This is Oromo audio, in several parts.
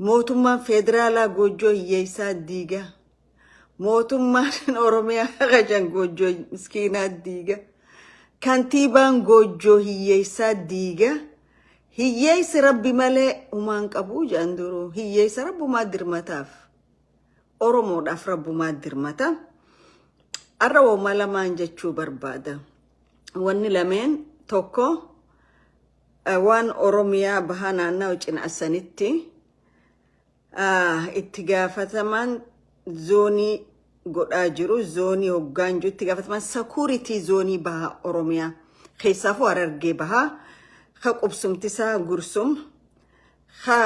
Mootummaan Feederaalaa Goojjoo Hiyyeessaa diiga. Mootummaan Oromiyaa Haqacan Goojjoo Miskiinaa diiga. Kantiibaan Goojjoo Hiyyeessaa diiga. Hiyyeessi Rabbi malee humaan qabu jedhan duruu. Hiyyeessa Rabbumaa dirmataaf. Oromoodhaaf Rabbumaa dirmata. Har'a woma lamaan jechuu barbaada. Wanni lameen tokko Waan Oromiyaa Bahaa Naannawa Cinaassanitti itti gaafatamaan zoonii godhaa jiru zoonii hoggaan jiru itti gaafatamaan sakuuritii zoonii bahaa Oromiyaa keessaafuu Harargee bahaa ka qubsumtisaa Gursum ka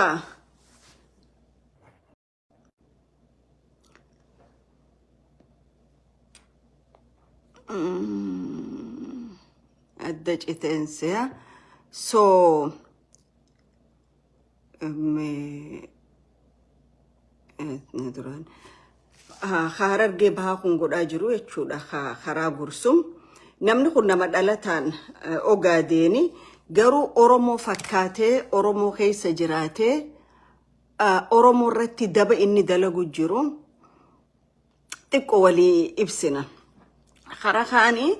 adda citeenseya so duraan harargee bahaa kun godhaa jiru jechuudha karaa gursum namni kun nama dhalataan ogaadeeni garuu oromoo fakkaatee oromoo keessa jiraatee Oromoo irratti daba inni dalagu jiru xiqqo walii ibsina. Karaa kaanii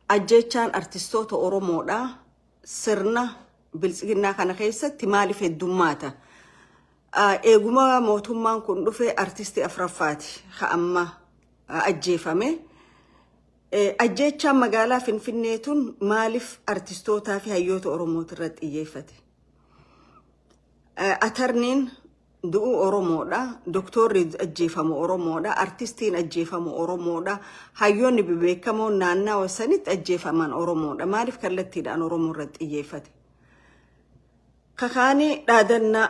ajjeechaan artistoota Oromoodha sirna biltsiginnaa kana keessatti maaliif heddummaata? Eeguma mootummaan kun dhufe artistii afraffaati ka amma ajjeefame. Ajjeechaan magaalaa Finfinnee tun maaliif artistootaa fi hayyoota Oromootirratti xiyyeeffate? Atarniin du'u Oromoodha, doktoorri ajjeefamu Oromoodha, artistiin ajjeefamu Oromoodha, hayyoonni bebeekamoon naannawa sanitti ajjeefaman Oromoodha. Maaliif kallattiidhaan Oromoo irratti xiyyeeffate? Kakaanii dhaadanna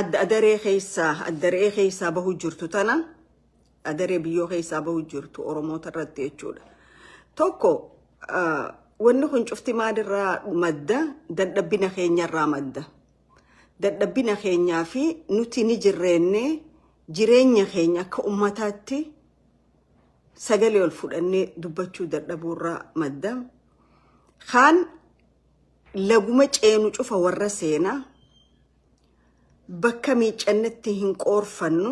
adda adaree keessaa adda re'ee keessaa bahu jirtu tana adaree biyyoo keessaa bahu jirtu Oromoota irratti jechuudha. Tokko ah, wanni kun cufti maalirraa madda dadhabbina keenyarraa madda. Dadhabbina keenyaa fi nuti ni jirreenne jireenya keenya akka ummataatti sagalee ol fudhannee dubbachuu dadhabuurraa madda. Kaan laguma ceenu cufa warra seenaa bakka miiccannetti hin qoorfannu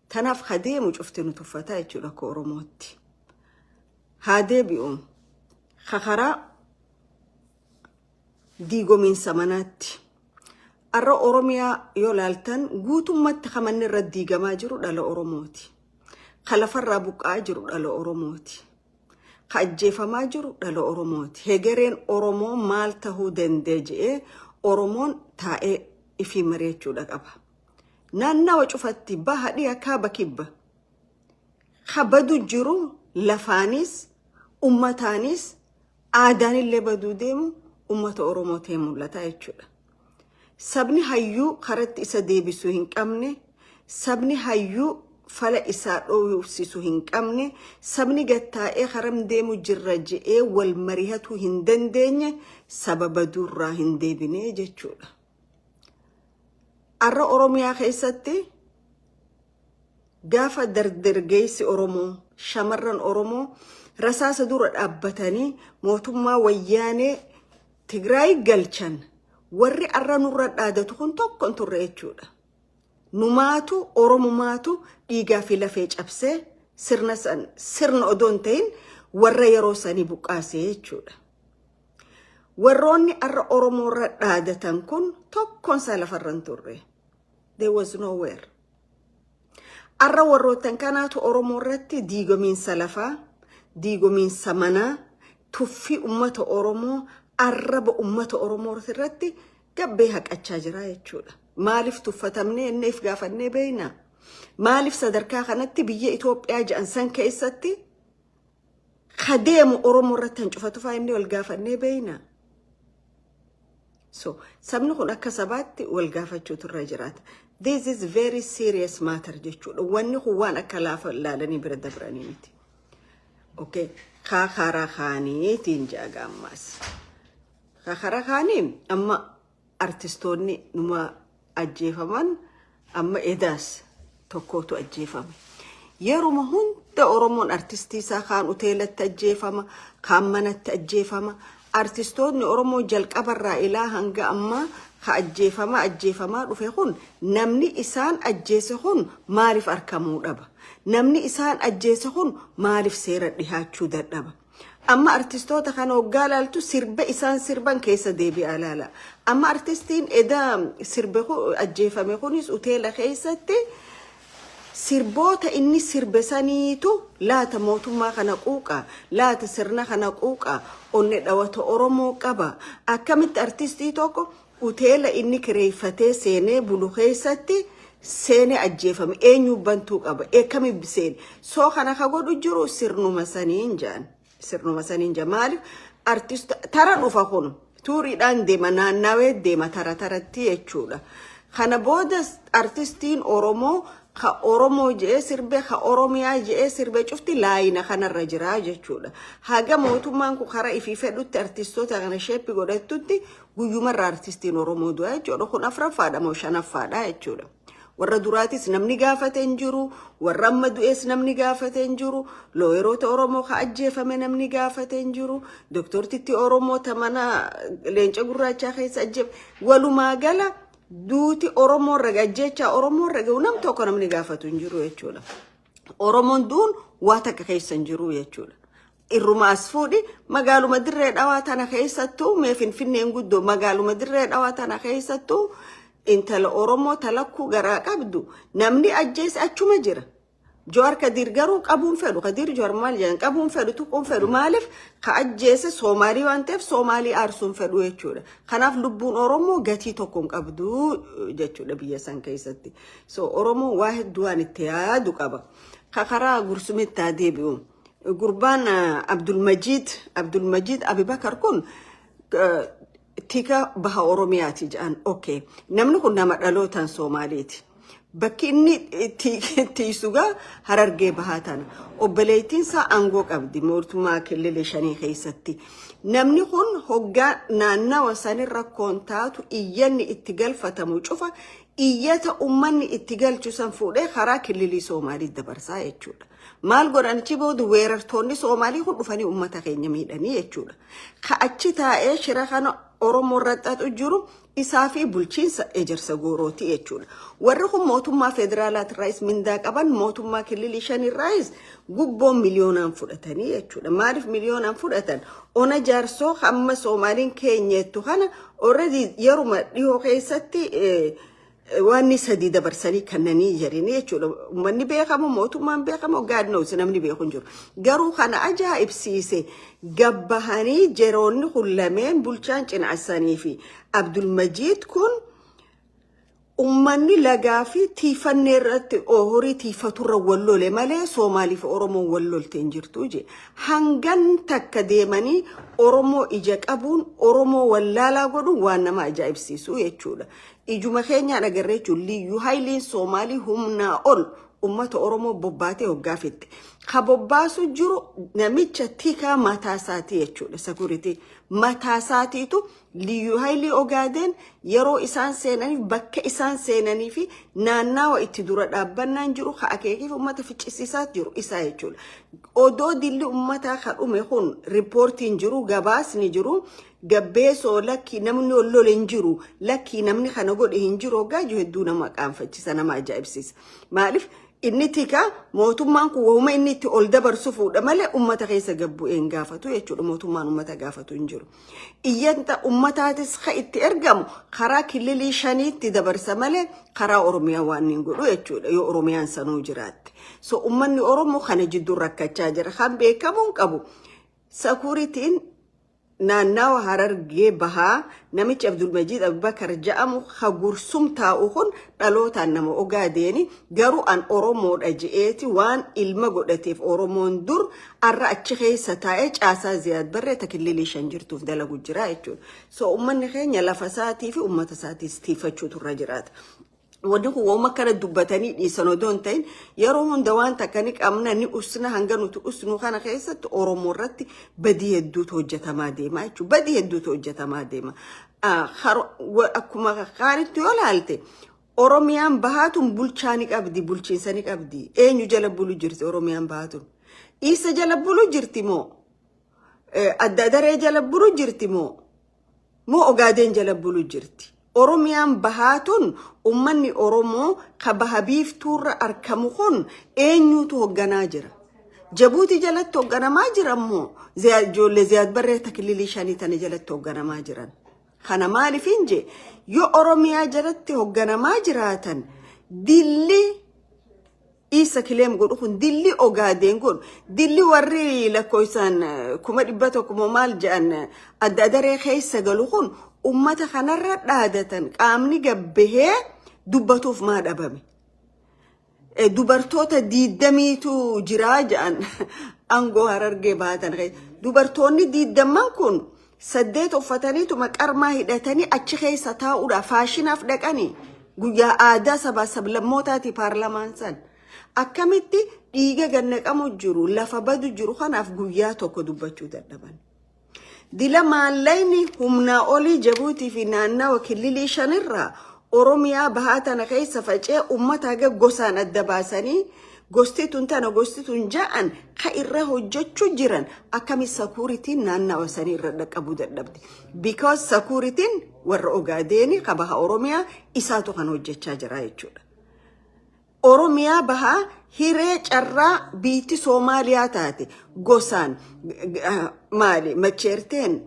Tanaaf ha deemu cufti nu tuffataa jechuudha akka Oromootti. Haa deebi'u ha karaa diigomiinsa manaatti. Har'a Oromiyaa yoo laaltan guutummatti ha manni irra diigamaa jiru dhala Oromooti. Ka lafarraa buqqa'aa jiru dhala Oromooti. Ka ajjeefamaa jiru dhala Oromooti. Hegereen Oromoo maal tahuu danda'e jedhee Oromoon taa'ee ifii mari'achuudha qaba. naannawa cufatti baha dhiha kaaba kibba ka badu jiru lafaanis ummataanis aadaanillee baduu deemu ummata Oromoo ta'e mul'ata jechuudha. Sabni hayyuu karatti isa deebisuu hin qabne, sabni hayyuu fala isaa dhoofsisu hin qabne, sabni gattaa'ee karam deemu jirra je'ee wal marihatuu hin dandeenye saba baduurraa hin deebine jechuudha. Har'a Oromiyaa keessatti gaafa dardargeessi Oromoo, shamarran Oromoo rasaasa dura dhaabbatanii mootummaa wayyaanee Tigraay galchan warri har'a nurra dhaadatu kun tokko hin turre jechuudha. Numaatu Oromumaatu dhiigaa fi lafee cabsee sirna san sirna odoo hin ta'in warra yeroo sanii buqqaasee jechuudha. Warroonni arra Oromoo irra dhaadatan kun tokkoon isaa lafarra hin turre. There was nowhere. Arra warroottan kanaatu Oromoo irratti diigomiinsa lafaa, diigomiinsa manaa, tuffii ummata Oromoo, arraba ummata Oromoo irratti gabbee haqachaa jira jechuudha. Maaliif tuffatamnee inneef gaafannee beekna? Maaliif sadarkaa kanatti biyya Itoophiyaa jedhan san keessatti ka deemu Oromoo irratti hancufatu fa'aa inni wal gaafannee beeyna. So sabni kun akka sabaatti wal gaafachuutu irra jiraata. This is very serious matter jechuudha. Wanni kun waan akka laafa ilaalanii bira dabranii miti. Okay. Kaa karaa kaaniitiin jaaga ammaas. Kaa karaa kaaniin amma artistoonni numa ajjeefaman amma edaas tokkootu ajjeefame yeruma hunda oromoon artistii isaa kaan uteelatti ajjeefama kaan manatti ajjeefama artistoonni oromoo jalqabarraa ilaa hanga ammaa ka ajjeefama ajjeefamaa dhufe kun namni isaan ajjeese kun maaliif arkamuu dhaba namni isaan ajjeese kun maaliif seera dhihaachuu dadhaba Amma artistoota kana hoggaa laaltu sirba isaan sirban keessa deebi'aa laala. Amma artistiin eda sirbe ku- ajjeefame kunis uteela keessatti sirboota inni sirbe saniitu laata mootummaa kana quuqa laata sirna kana quuqa onne dhawata oromoo qaba akkamitti artistii tokko Huteela inni kireeyfatee seenee bulu keeysatti seenee ajjeefame. Eenyuu bantuu qaba? Eekkami seene? So kana ka godhu jiru sirnuma saniin ja'an. Sirnuma saniin ja'an. Maalif artist tara dhufa kun. Tuuriidhaan deema naannaawee deema tara taratti jechuudha. Kana booda artistiin Oromoo ka Oromoo je'ee sirbe ka Oromiyaa je'ee sirbe cufti laayina kanarra jira jechuudha. Haga mootummaan kun karaa ifii fedhutti artistoota kana sheeppi godhattutti Guyyuma irraa artistiin Oromoo du'a jechuudha. Kun afraffaadha moo shanaffaadha jechuudha. Warra duraatis namni gaafate hin jiru. Warra amma du'ees namni gaafate hin jiru. Looyeroota Oromoo ka ajjeefame namni gaafate hin jiru. Doktortitti Oromoo ta mana leenca gurraachaa keessa ajjeef. Walumaa gala duuti Oromoo irra ga'a, ajjeechaa Oromoo irra ga'u nam tokko namni gaafatu hin jiru jechuudha. Oromoon du'uun waa takka keessa hin jiru jechuudha. Irruma as fuudhi magaaluma dirree dhawaa tana keessattuu mee finfinneen guddoo magaaluma dirree dhawaa tana keessattuu intala Oromoo talakkuu garaa qabdu namni ajjeese achuma jira. Jowaar Kadiir garuu qabuun fedhu Kadiir Jowaar maal jedhan qabuun fedhu tuquun fedhu maaliif ka ajjeese Soomaalii waan ta'eef Soomaalii aarsuun fedhu jechuudha. Kanaaf lubbuun Oromoo gatii tokko hin qabdu jechuudha biyya san keessatti. So Oromoon waa hedduu waan itti yaadu qaba. Ka karaa gursumitti haa deebi'u. Gurbaan Abdulmajiid Abdulmajiid Abibakar kun tika baha Oromiyaati jedhan. Okay. Namni kun nama dhalootaan Soomaaliiti. Bakki inni tiisugaa harargee bahaa tana. Obboleettiin isaa aangoo qabdi mootummaa killilee shanii keessatti. Namni kun hoggaa naannawa sanirra koon taatu iyyanni itti galfatamu cufa iyyata ummanni itti galchu san fuudhee karaa killilii Soomaalii dabarsaa jechuudha. Maal godhan achi booda weerartoonni Soomaalii kun dhufanii ummata keenya miidhanii jechuudha. Ka achi taa'ee shira kana Oromoo irra xaxu jiru isaa fi bulchiinsa ejersa goorooti jechuudha. Warri kun mootummaa federaalaatirraayis mindaa qaban mootummaa killilii shanirraayis gubboon miliyoonaan fudhatanii jechuudha. Maaliif miliyoonaan fudhatan? Ona jaarsoo hamma Soomaaliin keenyeettu kana Already yeruma dhihoo keessatti waanni sadii dabarsanii kannanii jedhanii jechuudha. Uummanni beekamu, mootummaan beekamu, God knows namni beeku hin jiru. Garuu kana ajaa'ibsiise gabbahanii jeroonni kun lameen bulchaan cinaasanii fi Abdulmajiid kun Ummanni lagaa fi tiifannee irratti horii tiifaturra wal lole malee Soomaalii fi Oromoon wal lolte hin jirtu je. Hangan takka deemanii Oromoo ija qabuun Oromoo wallaalaa godhuun waan nama ajaa'ibsiisu jechuudha. Ijuma keenyaan agarree jechuun liyyuu hayliin Soomaalii humnaa ol ummata Oromoo bobbaatee hoggaa fixxe. Ka bobbaasu jiru namicha tikaa mataasaati jechuudha. Sakuritii mataasaatiitu Liyyuu Haayilii Ogaadeen yeroo isaan seenaniif bakka isaan seenanii fi naannaawa itti dura dhaabbannaan jiru ka akeekiif uummata ficcisiisaa jiru isaa jechuudha. Odoo dilli uummataa ka dhume kun riippoortiin jiru gabaasni jiru gabbeesoo lakkii namni ol lole hin jiru lakkii namni kana godhe hin jiru hoggaa jiru hedduu nama qaanfachisa nama ajaa'ibsiisa. Maaliif inni tikaa mootummaan kun wahuma inni itti ol dabarsu fuudha malee uummata keessa gabbu'ee hin gaafatu jechuudha mootummaan uummata gaafatu hin jiru. Iyyanta ummataatis ka itti ergamu karaa kililii shaniitti dabarsa malee karaa Oromiyaa waan hin godhu jechuudha yoo Oromiyaan sanuu jiraatte. So ummanni Oromoo kana jidduu rakkachaa jira. Kan beekamuun qabu sakuritiin naannawa Harargee bahaa namichi Abdulmajiid Abubakar ja'amu ka gursum taa'u kun dhalootaan nama ogaadeeni garuu an oromoodha je'eeti waan ilma godhateef oromoon dur arra achi keessa taa'ee caasaa ziyaad barree takillilii shan jirtuuf dalagu jira jechuudha. So ummanni keenya lafa isaatii fi ummata isaatiis tiifachuutu irra jiraata. Wanni kun waan akkana dubbatanii dhiisan odoo hin ta'in yeroo hunda waan takka ni qabna ni usna hanga nuti usnu kana keessatti Oromoo irratti badii hedduutu hojjetamaa deema jechuudha. Badii hedduutu hojjetamaa deema. akkuma kaanitti yoo laalte Oromiyaan bahaatuun bulchaa ni qabdi bulchiinsa ni qabdi eenyu jala bulu jirti Oromiyaan bahaatuun isa jala bulu jirti moo adda daree jala bulu jirti moo moo ogaadeen jala bulu jirti Oromiyaan bahaatuun ummanni Oromoo ka baha biiftuurra arkamu kun eenyuutu hogganaa jira. Jabuutii jalatti hoogganamaa jiran moo Ziyaad- ijoollee Ziyaad Barree takililii shanii tana jalatti hoogganamaa jiran. Kana maaliifin je yoo Oromiyaa jalatti hoogganamaa jiraatan dilli isa kileem godhu kun dilli ogaadeen kun dilli warri lakkoofsaan eh, kuma dhibba tokko moo maal jedhan eh, adda adaree keessa galu kun ummata kanarra dhaadatan qaamni gabbahee dubbatuuf maa dhabame. Eh, Dubartoota diiddamiitu jiraa jedhan aangoo harargee baatan. kee- Dubartoonni diiddamman kun saddeet uffataniituma qarmaa hidhatanii achi keessa taa'uudha. Faashinaaf dhaqanii guyyaa aadaa sabaa sablammootaati paarlamaan san. Akkamitti dhiiga gannaqamu jiru lafa badu jiru kanaaf guyyaa tokko dubbachuu dadhaban. Dila maallayni humnaa olii Jabuutii fi naannawa killilii shanirraa Oromiyaa bahaa tana keessa facee ummata haga gosaan adda baasanii gosti tun tana gosti tun ja'an ka irra hojjechuu jiran akkami sakuuritiin naannawa sanii irra dhaqqabuu dadhabde. Because sakuuritiin warra Ogaadeeni ka baha Oromiyaa isaatu kan hojjechaa jira jechuudha. Oromiyaa bahaa hiree carraa biitti Soomaaliyaa taate gosaan maali macheerteen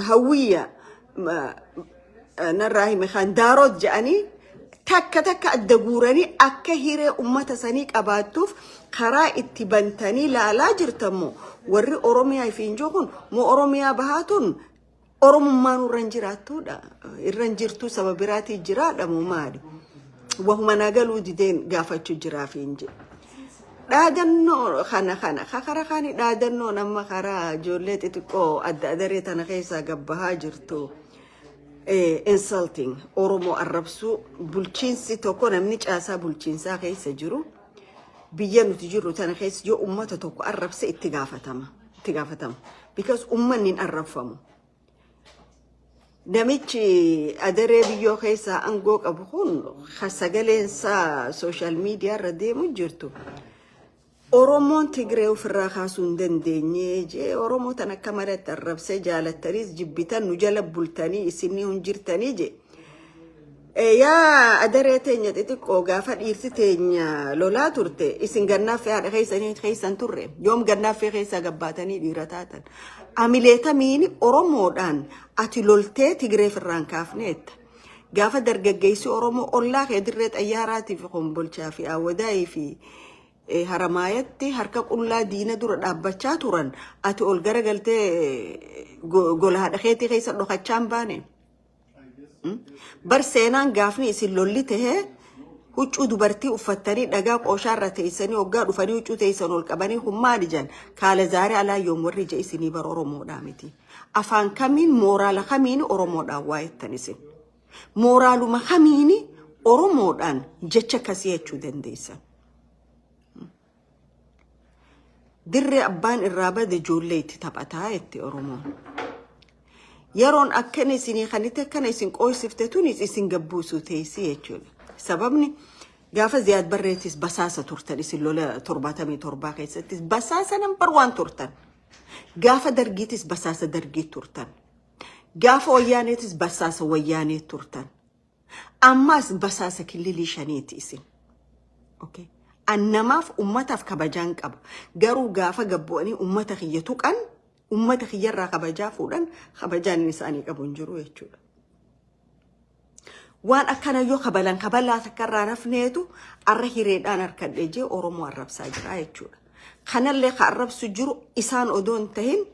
hawwiyya narraa hime kan daaroot jedhanii takka takka adda guuranii akka hiree ummata sanii qabaattuuf karaa itti bantanii laalaa jirtammoo warri Oromiyaa ifiin jiru kun moo Oromiyaa bahaa tun Oromummaan irra hin jiraattuudha. Irra hin jirtuu saba biraatii jiraadha moo maali? Wahuma na galuu dideen gaafachuu jiraaf hin jedhu. Dhaadannoo kana kana kakara kaani dhaadannoon amma karaa ijoollee xixiqqoo adda adaree tana keessaa gabbahaa jirtu eh, insulting Oromoo arrabsuu bulchiinsi tokko namni caasaa bulchiinsaa keessa jiru biyya nuti jirru tana keessa yoo ummata tokko arrabse itti gaafatama. itti gaafatamu. Because uummanni hin arrabfamu. Namichi adaree biyyoo keessaa aangoo qabu kun kan sagaleen isaa sooshaal miidiyaa irra deemu jirtu. Oromoon Tigree ofirraa kaasuu hin dandeenye jee Oromoo tan akka malatti arrabsee jaalattaniis jibbitan nu jala bultanii isinni hin jirtanii jee. Yaa adaree teenya xixiqqoo gaafa dhiirti teenya lolaa turte isin gannaaffee haadha keessanii keessan turre yoom gannaaffee keessaa gabbaatanii dhiira taatan amileetamiin oromoodhaan ati loltee tigireef irraan kaafneetta gaafa dargaggeessi oromoo ollaa kee dirree xayyaaraatii fi kombolchaa fi awwadaayii fi eh, haramaayatti harka qullaa diina dura dhaabbachaa turan ati ol garagaltee eh, go- gola haadha keetii keessa dhokachaa hin baane. Mm? Bar seenaan gaafni isin lolli tahee huccuu dubartii uffattanii dhagaa qooshaa irra teessanii hoggaa dhufanii huccuu teessan ol qabanii kun maali jan kaala zaaree alaa yoom warri ija isinii bar Oromoodhaa miti. Afaan kamiin mooraala kamiin Oromoodhaan waa jettan isin. Mooraaluma kamiin Oromoodhaan jecha akkasii jechuu dandeessan. Dirree abbaan irraa bade ijoollee itti taphataa jette Oromoon. Yeroon akkana isinii kanite akkana isin qooysifte tunis isin gabbuusuu teessii jechuudha. Sababni gaafa Ziyaad Barreetis basaasa turtan isin lola torbaatamii torbaa keessattis basaasa nambar waan turtan. Gaafa dargiitis basaasa dargii turtan. Gaafa wayyaaneetis basaasa wayyaanee turtan. Ammaas basaasa killilii shaniiti isin. Okay. An namaaf ummataaf kabajaan qaba. Garuu gaafa gabbu'anii ummata kiyya tuqan ummata kiyyarraa kabajaa fuudhan kabajaan isaanii qabu hin jiru jechuudha. Waan akkana yoo kabalan kabalaa takka irraa rafneetu arra hireedhaan harkadhee jee Oromoo arrabsaa jira jechuudha. Kanallee ka arrabsu jiru isaan odoo hin tahin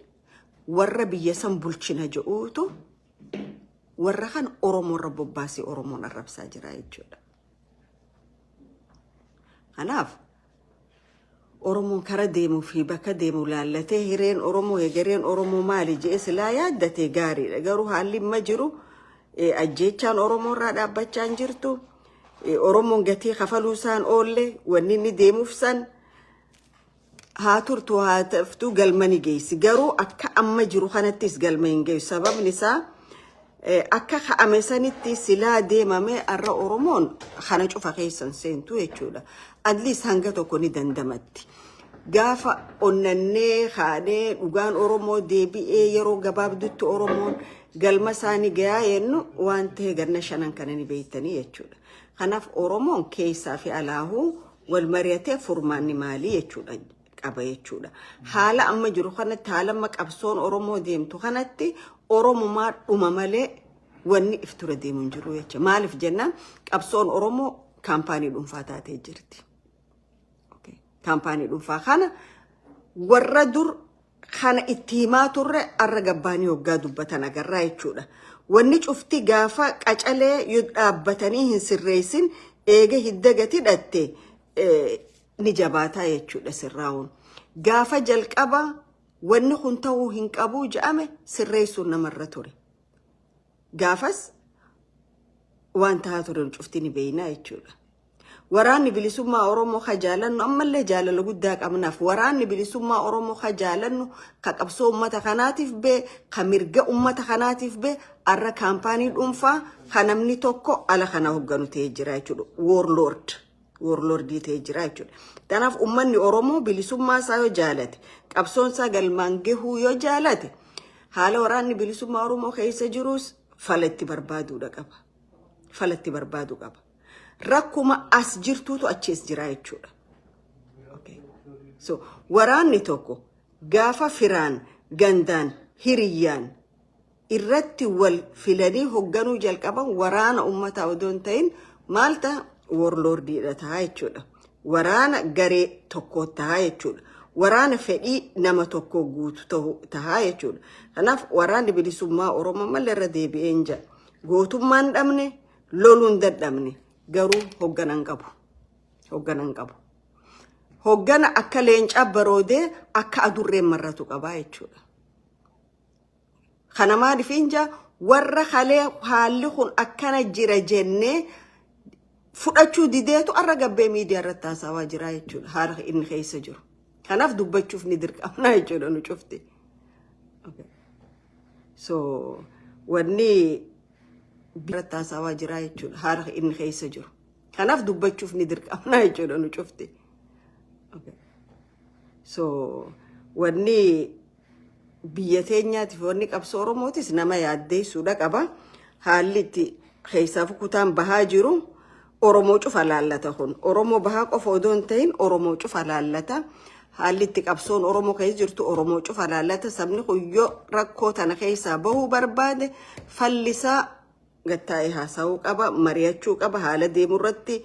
warra biyya san bulchina jedhuutu warra kan Oromoo irra bobbaasee Oromoon arrabsaa jira jechuudha. Kanaaf Oromoon kara deemuu fi bakka deemu laallatee hireen Oromoo hegereen Oromoo maali jedhee silaa yaaddatee gaariidha. Garuu haalli amma jiru eh, ajjeechaan Oromoo irraa dhaabbachaa hin jirtu. Eh, Oromoon gatii kafaluu isaan oolle wanni inni deemuuf san Haa turtu haa taftu galma ni geessi. Garuu akka amma jiru kanattis galma hin geessu. Sababni isaa eh, akka ka'ame sanitti silaa deemame har'a Oromoon kana cufa keessa hin seentu jechuudha. At least hanga tokko ni dandamatti. Gaafa onnannee kaanee dhugaan Oromoo deebi'ee yeroo gabaabdutti Oromoon galma isaa ni gayaa jennu waan ta'e ganna shanan kana ni beektanii jechuudha. Kanaaf Oromoon keessaa fi alaahuu wal mari'atee furmaanni maalii jechuudha qaba jechuudha. Haala amma jiru kanatti haala amma qabsoon Oromoo deemtu kanatti Oromumaa dhuma malee wanni if ture deemu hin jiru jecha. Maaliif jennaan qabsoon Oromoo kaampaanii dhuunfaa taatee jirti. Okay. Kaampaanii dhuunfaa kana warra dur kana itti himaa turre arra gabbaanii hoggaa dubbatan agarraa jechuudha. Wanni cufti gaafa qacalee yoo dhaabbatanii hin sirreessin eega hidda gad hidhatte eh, ni jabaataa jechuudha sirraa'uun. Gaafa jalqaba wanni kun ta'uu hin qabuu ja'ame sirreessuun namarra ture. Gaafas waan ta'aa ture cufti ni beeknaa jechuudha. Waraanni bilisummaa Oromoo ka jaalannu ammallee jaalala guddaa qabnaaf. Waraanni bilisummaa Oromoo ka jaalannu ka qabsoo uummata kanaatiif bee ka mirga uummata kanaatiif bee arra kaampaanii dhuunfaa ka namni tokko ala kana hogganu ta'ee jira jechuudha. Warlord. Warlordii ta'ee jira jechuudha. Kanaaf uummanni Oromoo bilisummaa isaa yoo jaalate qabsoon isaa galmaan gahuu yoo jaalate haala waraanni bilisummaa Oromoo keessa jiruus fala itti barbaaduudha qaba. Fala itti barbaadu qaba. rakkuma as jirtuutu achiis jira jechuudha. Okay. So, waraanni tokko gaafa firaan, gandaan, hiriyyaan irratti wal filanii hogganuu jalqaban waraana ummataa odoo hin ta'in maal ta'a? Warlordiidha ta'a jechuudha. Waraana garee tokkoo ta'a jechuudha. Waraana fedhii nama tokkoo guutu ta'u ta'a jechuudha. Kanaaf waraanni bilisummaa Oromoo malee irra deebi'een jira. Gootummaan dhabne, loluun dadhabne garuu hoggana hin qabu. Hoggana hin qabu. Hoggana akka leencaa baroodee akka adurreen marratu qabaa jechuudha. Kana maaliif inja warra kalee haalli kun akkana jira jennee fudhachuu dideetu arra gabbee miidiyaa irratti haasawaa jira jechuudha. Haala inni keessa jiru. Kanaaf dubbachuuf ni dirqamna jechuudha nu cufti. Okay. So wanni biratti haasawaa jiraa jechuudha haala inni keessa jiru. Kanaaf dubbachuuf ni dirqamna jechuudha nu cufti. Okay. So wanni biyya teenyaatiif wanni qabsoo Oromootis nama yaaddeessuudha qaba. Haalli itti keessaaf kutaan bahaa jiru Oromoo cufa laallata kun. Oromoo bahaa qofa odoo hin ta'in Oromoo cufa laallata. Haalli itti qabsoon Oromoo keessa jirtu Oromoo cufa laallata. Sabni kun yoo rakkoo tana keessaa bahuu barbaade fallisaa gattaa'ee haasa'uu qaba, mari'achuu qaba, haala deemu irratti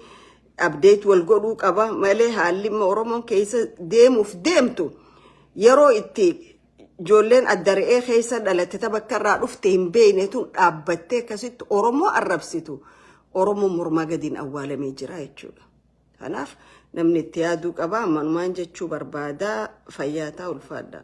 abdeet wal godhuu qaba malee haalli immoo Oromoon keessa deemuuf deemtu yeroo itti Ijoolleen adda re'ee keessa dhalatte ta bakka irraa dhufte hin beekne tun dhaabbattee akkasitti Oromoo arrabsitu Oromoo mormaa gadiin awwaalamee jira jechuudha. Kanaaf namni itti yaaduu qaba. Manumaan jechuu barbaada. Fayyaa taa ulfaadhaa.